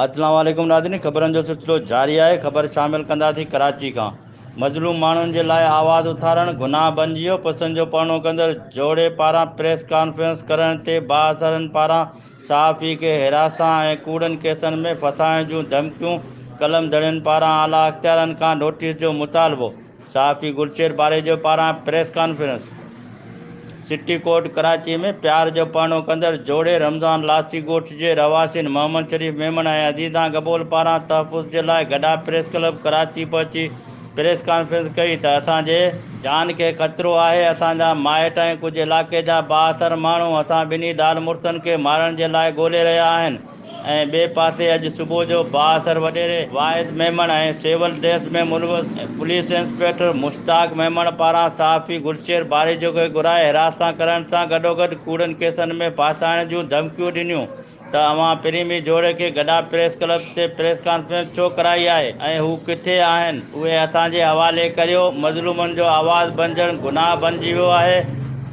اسلام عليڪم ناظرين خبرن جو سلسلو جاري آهي خبر شامل ڪنداسين ڪراچي کان مظلوم ماڻهن جي لاء آواز اٿارڻ گناهه بنجي ويو پسن جو پڙهڻو ڪندڙ جوڙي پاران پريس ڪانفرنس ڪرڻ تي بااثرن پاران صحافي کي هراسان ۽ ڪوڙن ڪيسن ۾ ڦسائڻ جون ڌمڪيون قلم دڙين پاران اعليٰ اختيارن کان نوٽيس جو مطالبو صحافي گلشير پاريجو پاران press conference city court Karachi ۾ پيار جو پڙهڻو ڪندڙ جوڙي رمضان لاسي ڳوٺ جي رهواسين محمد شريف ميمڻ ۽ عزيزان گبول پاران تحفظ جي لاء گڏا پريس ڪلب ڪراچي پهچي پريس ڪانفرنس ڪئي ته اسان جي جان کي خطرو آهي اسان جا مائٽ ۽ ڪجهه علائقي جا بااثر ماڻهو اسان ٻنهي زال مڙسن کي مارڻ جي لاء ڳولي رهيا آهن. ۽ ٻئي پاسي اڄ صبح جو بااثر وڏيري واحد ميمڻ ۽ سول ڊريس ۾ ملوث پوليس انسپيڪٽر مشتاق ميمڻ پاران صحافي گلشير باريجو کي گھرائي حراست سان ڪرڻ سان گڏوگڏ ڪوڙن ڪيسن ۾ ڦاسائڻ جون ڌمڪيون ڏنيون ته اوهان پريمي جوڙي کي گڊا پريس ڪلب تي پريس ڪانفرنس ڇو ڪرائي آهي ۽ هو ڪٿي آهن اهي اسان جي حوالي ڪريو مظلومن جو آواز بنجڻ گناهه بنجي ويو آهي.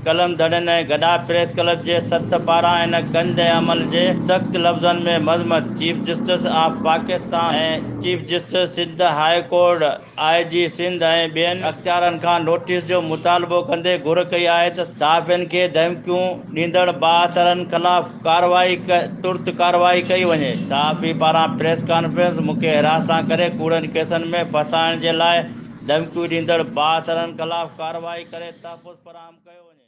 قلم دڙن ۽ گڏا پريس ڪلب جي سٿ پاران ان گند ۽ عمل جي سخت لفظن ۾ مذمت chief justice of Pakistan ۽ chief justice Sindh high court, I G Sindh ۽ ٻين اختيارن کان نوٽيس جو مطالبو ڪندي گهر ڪئي آهي ته صحافين کي ڌمڪيون ڏيندڙ بااثرن خلاف ڪارروائي ترت ڪارروائي ڪئي وڃي، صحافي پاران پريس ڪانفرنس، مون کي حراست سان ڪري ڪوڙن ڪيسن ۾ ڦاسائڻ جي لاء. ڌمڪيون ڏيندڙ بااثرن خلاف ڪارروائي ڪري تحفظ فراهم ڪيو وڃي.